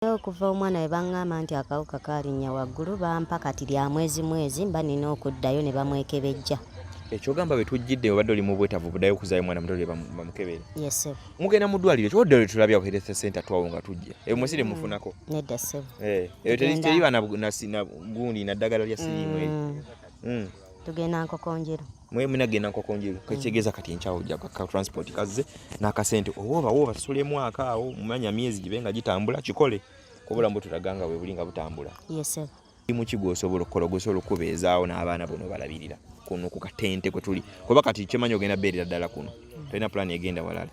okuva omwana we baŋŋamba nti akawuka kaalinya waggulu bampa kati lya mwezi mwezi mba nina okuddayo ne bamwekebejja ekyogamba betujjidde obadde oli mu bwetavu budayo okuzayo mwana muto bamukebere mugenda mu ddwaliro kyodde lwe tulabya ku health center twawo nga tujja eyo munsi temufunako mm, nedda ssebo eh, eyo teriba gundi naddagala lya siriimu mm. mm. tugenda nkokonjero mwe muna genda nkoko njiru mm. kekitegeeza kati enkyawo ojja ka transport kazze n'akasente oba obawo obasasule mwaka awo mumanya myezi gibe nga gitambula kikole kubula mbu tulaganga we buli nga butambula limu ki gwosobola okukola gwosobola okubeezaawo n'abaana bono balabirira kuno ku katente kwe tuli kuba kati kyemanyi ogenda beerera ddala kuno mm. tolina pulaani egenda walala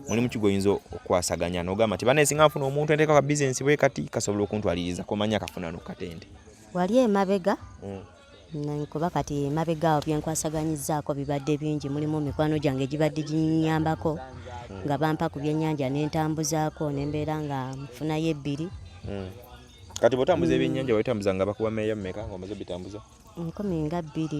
mulimu ki gwoyinza okukwasaganya n'ogamba nti bana esinga nfuna omuntu enteeka ka bizinesi bwe kati kasobola okuntwaliriza komanya akafunano ku katente wali emabega mm. kuba kati emabega awo byenkwasaganyizzaako bibadde bingi mulimu mikwano gyange gibadde ginyambako nga bampa ku byennyanja nentambuzaako nembeera nga nfunayo ebbiri hmm. kati bwotambuza hmm. ebyennyanja waitambuza nga bakuba meeya mumeka nga omaze bitambuza nkumi nga bbiri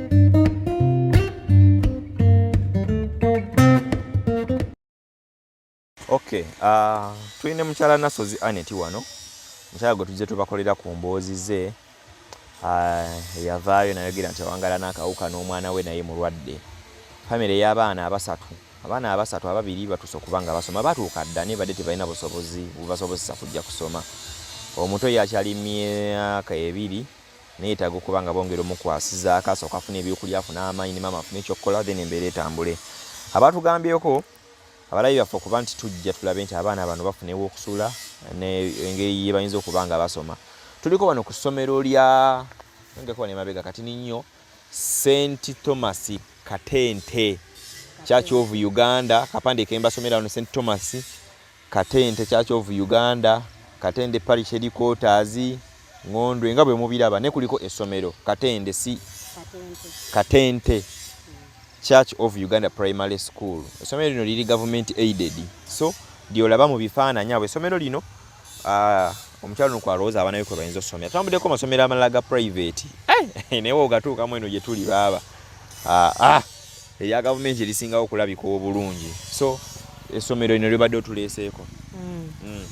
Okay, uh, tulina mukyala Nasozi Aneti wano mukyala gwe tujja tubakolera ku mboozi ze ah, yavaayo nayogera nti awangala n'akawuka n'omwana we naye mulwadde famire y'abaana abasatu abaana abasatu ababiri batuuse okuba nga basoma batuuka dda naye badde tebalina busobozi bubasobozesa kujja kusoma omuto yakyali myaka ebiri neyetaaga okuba nga bongera omukwasiza akaaso kafuna ebyokulya afune amaanyi ne maama afune ekyokukola then embeera etambule abaatugambyeko abalabi baffe okuba nti tujja tulabe nti abaana bano bafuna ewokusula engeri yebayinza okuba nga basoma tuliko bano ku ssomero lya ngekoba nemabega kati ninnyo st thomas katente church of uganda kapande kembasomera wano st thomas Katente, Church of Uganda, Katende Parish Headquarters, Ngondwe nga bwe mubiraba ne kuliko essomero Katende si Katente Church of Uganda Primary School. Essomero lino liri government aided. So lyolaba mu bifaananyi abo essomero lino ah, omukyalo nuko alowooza abaana be kwe bayinza okusomera. Tutambuddeko amasomero amalala ga private. Eh, naye ogatuukamu eno gye tuli baaba. Ah, ah. eya gavumenti erisingawo okulabika obulungi so essomero lino libadde otuleeseeko mm. mm.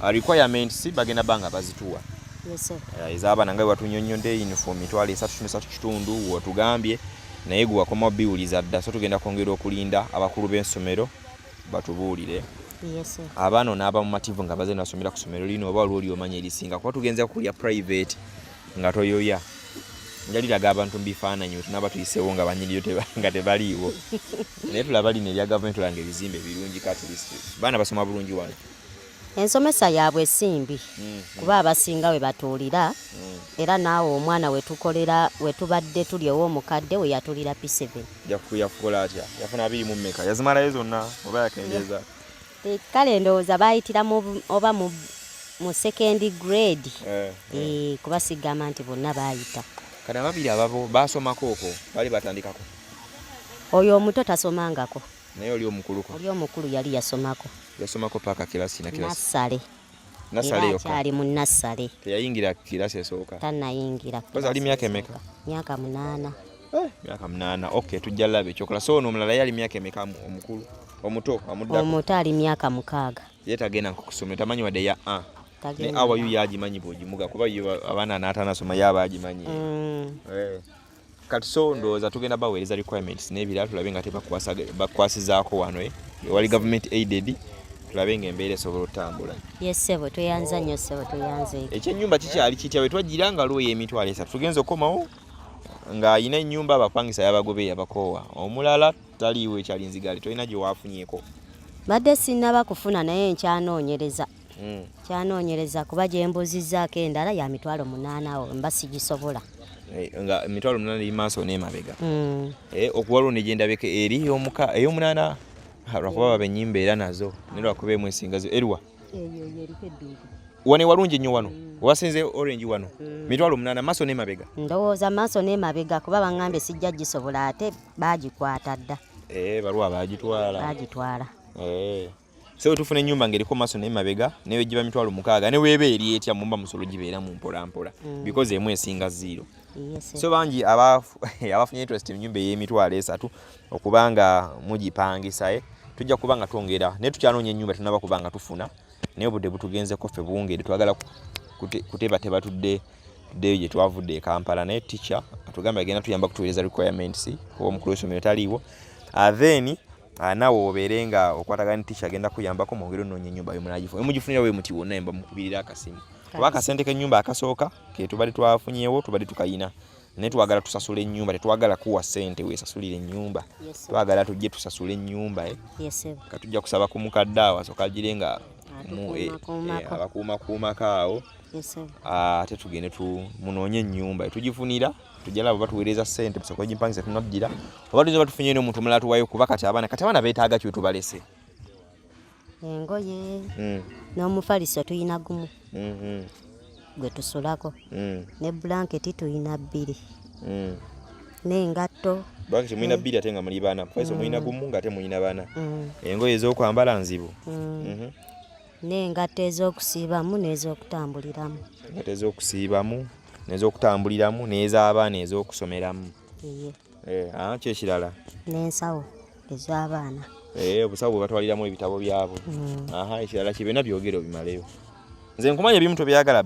uh, requirements bagenda banga bazituwa uh, ez'abaana nga webatunyonyodde uniform mitwalo esatu tumisatu kitundu watugambye naye gwe wakoma biwuliza dda so tugenda kwongera okulinda abakulu b'ensomero batubuulire abaana onaaba mumativu nga baze nasomera ku somero lino oba waliwo lyomanya erisinga kuba tugenza kulya private nga toyoya njaliraga abantu mubifaananyi wetunaba tuyiseewo nga banyiniyo nga tebaliiwo naye tulaba lino erya gavumenti olanga ebizimbe birungi katlist baana basoma bulungi wano ensomesa yaabwe esimbi mm-hmm. kuba abasinga we batuulira mm. era naawe omwana wetukolera wetubadde tuli ow'omukadde we yatulira p7 yakukola atya yafuna abiri mu mmeka yazimalayo zonna oba yakendeza Eh, kale ndowooza baayitira oba mu mu second grade eh, eh. eh, kuba sigamba nti bonna baayita kati ababiri ababo baasomako okwo bali batandikako oyo omuto tasomangako naye oli omukuluko oli omukulu yali yasomako yasomako paaka kirasi na kirasi nasale Nasale yoka. Kyali mu nasale. Teyayingira kirasi esooka. Tanayingira. Koza ali miaka emeka? Miaka munana. Eh, miaka munana. Okay, tujja labe chokola. So no mulala yali miaka emeka omukulu. Omuto amudda. Omuto ali miaka mukaga. Yeta gena kukusomera tamanyi wade ya a. Ne awa yu yaji manyi boji muga kuba yu abana nata nasoma yaba aji manyi. Mm. Eh. kati so ndowooza tugenda baweereza requirements n'ebirala tulabe nga tebakwasizaako wano eh? wali government aided tulabe nga embeera esobola otambula yes sebo tuyanza nnyo sebo tuyanza ekyo ekyenyumba kikyali kitya wetwajjira nga lwoyo emitwalo esatu tugenza okomawo nga alina enyumba abapangisa yabagobe yabakoowa omulala taliiwo ekyalinzigali tolina gyewafunyeko badde sinaba kufuna naye nkyanoonyereza mm. kyanoonyereza kuba gye mbuuzizzaako endala ya mitwalo munaana awo mba sigisobola eh, nga emitwalo munaana eri maaso n'emabega mm. eh, okuwaliwo ne gyendabeka eri ey'omunaana lwakuba baba ennyimba era nazo ne lwakuba emu ensingazo eriwa wano ewalungi nnyo wano mm. wasinze orange wano mm. mitwalo munana maso ne mabega ndowooza maso ne mabega kuba bangambye sijja gisobola ate bagikwata dda eh, baluwa bagitwala bagitwala eh. so tufuna enyumba ngeriko maso naye mabega naye giba mitwalo mukaaga ne webe eri etya mumba musolo gibeera mu mpola mpola mm. because emu esinga zero so bangi abafunye interest mu nyumba ey'emitwalo esatu okubanga mugipangisa eh, tujja kuba nga twongera naye tukyanoonya enyumba tunaba kuba nga tufuna naye obudde butugenzeko ffe bungeri twagala kutebateba tudde tuddeyo gye twavudde e kampala naye ticha atugambye agenda tuyamba kutuweereza requirements oba omukulu w'essomero taliiwo ah, then Ah, nawe obeere nga okwatagana ticha agenda kuyambako mwongere onoonya enyumba wemunagifuna wemugifunira wemuti wonna emba mukubirira akasimu oba akasente kenyumba akasooka ketubadde twafunyewo tubadde tukayina naye twagala tusasula enyumba tetwagala kuwa sente wesasulira enyumba twagala tujje tusasula enyumba eh. katujja kusaba ku mukadde awo asoka agire nga eh, eh, abakuumakuumako awo ate ah, tugende munoonye enyumba tugifunira tujala baba tuwereza sente bisoko jimpangisa tunaddira oba tuzo batufunye no muntu mulatu wayo kuba kati abana kati abana betaaga kyo tubalese engoye mm. n'omufaliso tuyina gumu mm -hmm. gwe tusulako mm. ne blanketi tuyina bbiri mm. n'engatto bwaki temulina mm. bbiri ate nga muli baana faiso mm. mulina gumu nga ate mulina baana mm. engoye ez'okwambala nzibu mm. mm -hmm. n'engatto ez'okusiibamu n'ez'okutambuliramu engatto ez'okusiibamu n'ez'okutambuliramu n'ez'abaana ez'okusomeramu eh, ah, ki ekirala n'ensawo ez'abaana eh, obusawo bwe batwaliramu ebitabo byabwe mm. aha ekirala kye byonna byogere obimaleyo nze nkumanya ebimu tobyagala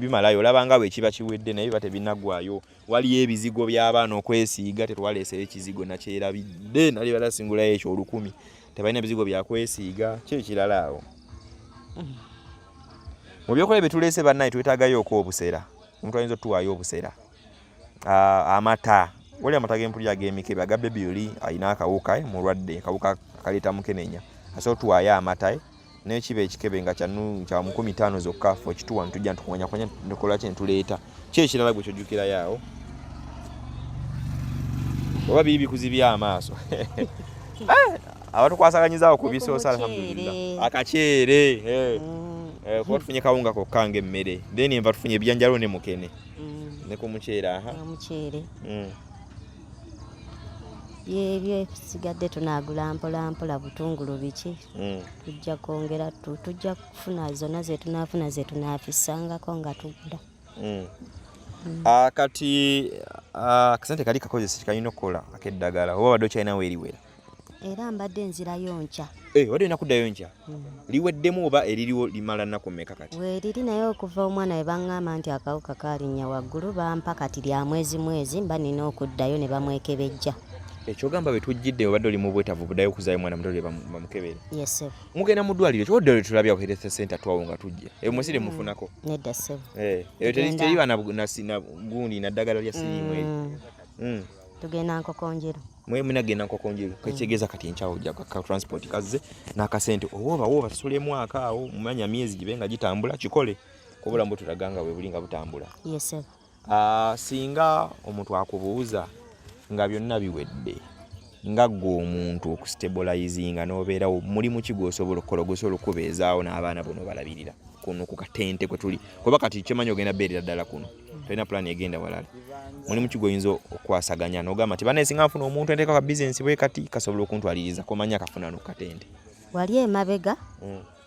bimalayo olabanga bwe kiba kiwedde naye biba tebinaggwayo waliyo ebizigo by'abaana okwesiiga tetwaleeseyo ekizigo nakyerabidde nali bala singulayo ekyo olukumi tebalina bizigo byakwesiiga kyo ekirala awo mu byokola byetuleese bannaye twetagayo oku obusera omuntu ayinza otuwaayo obusera amata wali amata gempulira agemikebe aga bebi oli alina akawuka eh, mulwadde akawuka kaleeta mukenenya asobola otuwaayo amata eh, naye kiba ekikebe nga kya mukumi taano zokka fe okituwa netujja ntukumanyakumanya nekola kye netuleeta ki ekirala gwe kyojjukirayo awo oba biri bikuzibya amaaso eh, abatukwasaganyizawo ku bisoosa alhamdulillah akaceere eh. mm. eh, kuba tufunye kawunga kokka nga emmere then enva tufunye ebijanjalo ne mukene mm. ne ku muceere aha muceere mm. yebyo ebisigadde tunagula mpolampola butungulu biki mm. tujja kwongera tujja kufuna zonna zetunaafuna zetunaafisangako nga tudda mm. mm. ah, kati ah, akasente kali kakozesa kalina okukola akeddagala oba badde okyalinawo eriwera era mbadde nzirayo nkya eh, wadde olina kuddayo nkya liweddemu oba eririwo limala nnaku mmeka kati weeriri naye okuva omwana we baŋŋamba nti akawuka kaalinya waggulu bampa kati lya mwezi mwezi mba nina okuddayo ne bamwekebejja ekyogamba bwetujjidde obadde oli mubwetavu budayo okuzayo mwana mutole bamukebere mugenda mu ddwaliro kyodde lwe tulabya ku health center twawo nga tujja eyo munsi temufunako eh, eyo teriba nagundi naddagala lya siriimu eyo mm. mm. tugenda nkokonjero mwe munagenda nkokonjero mm. kekitegeeza kati enkyawo ja ka transport kazze n'akasente owoba woba tusula emwaka awo mumanya myezi gibe nga gitambula kikole kubulamu butulaga nga webuli nga butambula Ah, singa omuntu akubuuza nga byonna biwedde nga ggwe omuntu okustabolizinga n'obeerawo mulimu ki gwosobola okukola gwosobola okukubeezaawo n'abaana bono balabirira kuno ku katente kwe tuli kuba kati kyemanyi ogenda beerera ddala kuno tolina pulaani egenda walala mulimu ki gwoyinza okwasaganya n'ogamba nti banaye singa nfuna omuntu enteeka ka bizinesi bwe kati kasobola okuntwaliriza komanya kafunano ku katente wali emabega mm.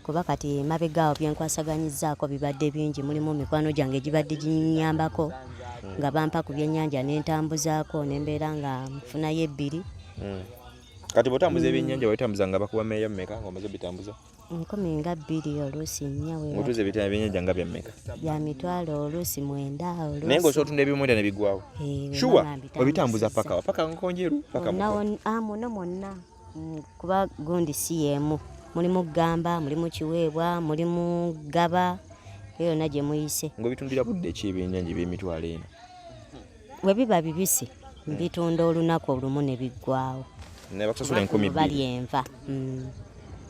kuba kati emabega awo byenkwasaganyizzaako bibadde bingi mulimu mikwano gyange gibadde ginyambako nga bampa ku byennyanja nentambuzaako nembeera nga nfunayo ebbiri hmm. kati botambuza ebyennyanja wabitambuza nga bakuba meeya mumeka nga omaze bitambuza nkumi nga bbiri oluusi nnya otuuza ebyennyanja nga byammeka bya mitwalo oluusi mwenda naye nga osotunda ebimwenda ne bigwawo shuwa obitambuza pakawa paka nkonjeru paka muno mwonna mm, kuba gundi si yeemu mulimu gamba mulimu kiweebwa mulimu gaba eyo yonna gye muyise ngaobitundira budde ki ebyenjanja ebyemitwalo ena we biba bibisi mbitunda olunaku olumu ne biggwawo bali enva mm.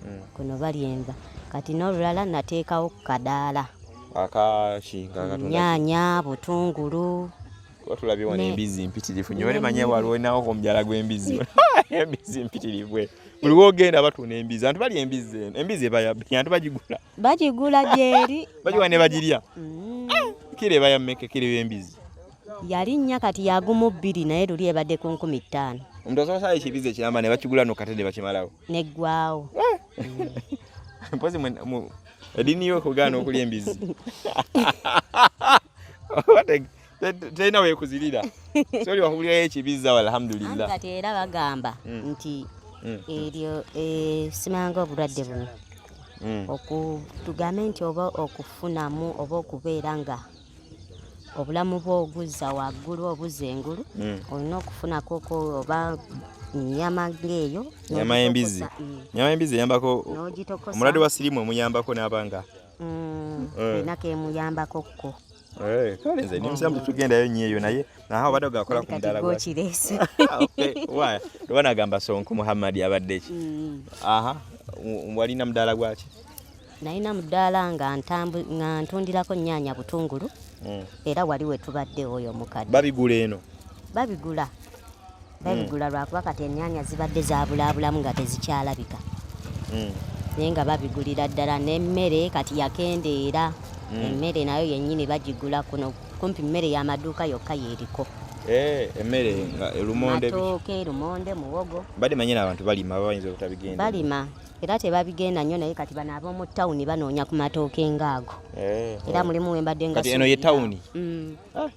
mm. kuno bali enva kati n'olulala nateekawo ku kadaala nyanya butungulu kuba tulabye wano embizzi mpitirivu nyo olemanye waliwo nawo omubyala gw'embizzi embizzi mpitirivu eh. buli wogenda batunda embizzi antu balya embizzi eno embizzi ebayabbi antu bagigula bagigula gyeri bagiwa ne bagirya mm. eh, kira ebaya mmeka kira ebembizzi yali nnya kati yagumu bbiri naye luli ebadde ku nkumi ttaano omuntu asobola sala ekibizi ekiramba ne bakigula nokate ne bakimalawo neggwawo eh. mm. mpozi edini yo okugaana okulya embizzi tena wekuzirira sori wahulira ekibiza walhamdulillah kati era bagamba mm. nti mm. eryo eh, simanga obulwadde buno mm. okutugambe nti oba okufunamu oba okubeera nga obulamu bwo oguzza waggulu obuzza engulu olina okufunako oba nyama ngeeyo nyama y'embizi nyama y'embizi eyambako omulwadde wa sirimu emuyambako n'abanga olina kemuyambako kko Eh, kale nze ndi musiramu tetugendayo nnyo eyo naye naha obadde ogakola ku mudala gwakirese ah, waya oba nagamba sonko muhammadi abadde ki mm. aha walina mudaala gwaki nalina mudaala nga ntundirako nyaanya butungulu mm. era wali wetubadde oyo omukadde babigula eno babigula babigula lwakuba kati ennyanya zibadde zabulaabulamu nga tezikyalabika hmm. naye nga babigulira ddala n'emmere kati yakendeera hmm. emmere nayo yennyini bagigula kuno kumpi mmere y'amaduuka yokka yeeriko eh, emmere nga elumonde matooke elumonde muwogo badde manyina abantu balima babayinza obutabigenda balima era tebabigenda nnyo naye kati bano ab'omu tawuni banoonya ku matooke ngaago eh, era eh. mulimu wembadde nga eno ye tawuni mm. ah,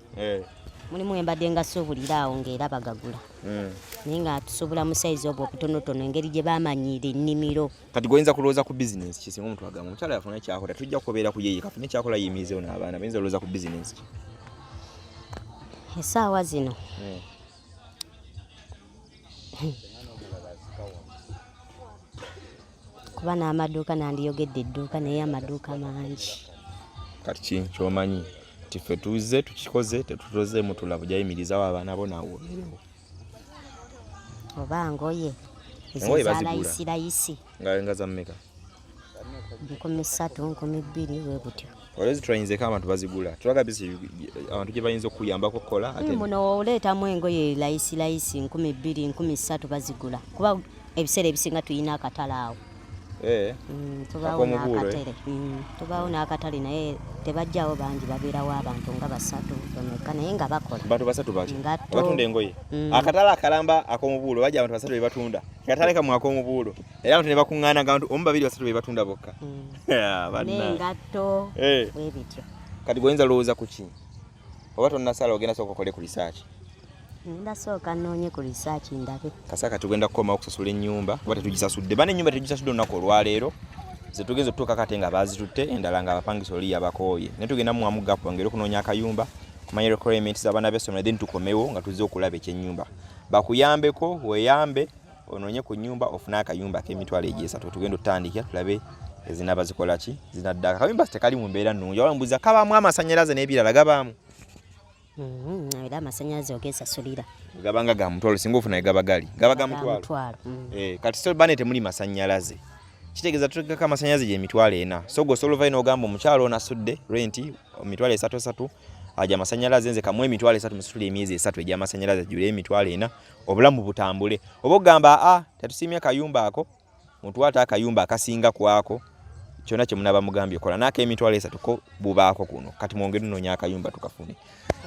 mulimu embadde nga suubulira awo ng'era bagagula hmm. naye nga tusuubula mu sayizi obwo obutonotono engeri gye bamanyiira ennimiro kati goyinza kulowooza ku bizinensi ki singa omuntu agamba omukyala yafuna ekyakola tujja kubeera ku yeye kafuna ekyakola yimirizewo n'abaana bayinza olowooza ku bizinensi ki esaawa zino hmm. kuba n'amaduuka nandiyogedde edduuka naye amaduuka mangi kati ki kyomanyi nti ffe tuze tukikoze tetutoze mutula bujayimirizawo abaana bo nawomerewo oba ngoye ezalayisirayisi nga zammeka nkumi ssatu nkumi bbiri webutyo Olha as trains é kama tubazigula. Tulaga bisi abantu gye bayinza okuyambako okukola ate. Muno oleetamu engoye layisi layisi nkumi bbiri nkumi ssatu bazigula kuba ebiseera ebisinga tulina akatale awo. Eh. Mm, tubaawo eh? n'akatale mm, tubaawo n'akatale naye tebajjawo bangi babeerawo abantu nga basatu bameka naye nga bakola bantu basatu baki abatunda engoye mm. akatale akalamba ak'omubuulo bajja abantu basatu be batunda katale kamwe ak'omubuulo era abantu ne bakuŋŋaana nga bantu omu babiri basatu be batunda bokka hmm. n'engatto eh. bwe bityo kati goyinza lowooza ku ki oba tonnasala ogenda sooka okole ku risaaki ngenda sooka nnoonye ku risaaki ndabe kasa kati ogenda kukoma okusasula ennyumba kuba tetugisasudde bana ennyumba tetugisasudde olunaku olwaleero zetugenza otutuuka kate nga baazitutte endala nga abapangisa oli yabakooye naye tugenda muwamu gapu ngeri okunoonya akayumba kumanya requirements z'abaana b'essomero then tukomewo nga tuzze okulaba ekyennyumba bakuyambeko weyambe onoonye ku nyumba ofune akayumba ak'emitwalo egyesatu tugenda otutandikira tulabe ezinaba zikola ki zinadda akayumba tekali mu mbeera nnungi waba mbuuza kabaamu amasannyalaze n'ebirala gabaamu mm-hmm. era amasannyalaze ogesasulira gabanga ga mutwalo singa ofuna gaba gali gaba ga mutwalo mm. eh, kati so bane temuli masannyalaze kitegeeza tutegekako amasannyalaze gyemitwalo ena so gwe osobola ovayo n'ogamba omukyalo ono asudde renti mitwalo esatu esatu aja amasannyalaze nze kamu emitwalo esatu musitula emyezi esatu egy'amasannyalaze jjula emitwalo ena obulamu butambule oba ogamba a ah, tetusiimye kayumba ako muntu ate akayumba akasinga kwako kyona kyemunaba mugambye kola nako emitwalo esatu ko bubaako kuno kati mwongere nonya akayumba tukafune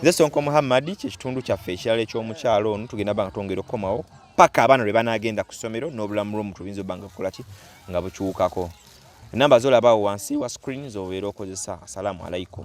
nze sonko muhammadi kyekitundu kyaffe ekirala ekyomukyalo ono tugenda banga twongere okukomawo paka abaana lwe banagenda ku ssomero n'obulamu lwomuntu buyinza obanga kukola ki nga bukyukako enamba zolabawo wansi wa screen zobeera okozesa assalamu alaikum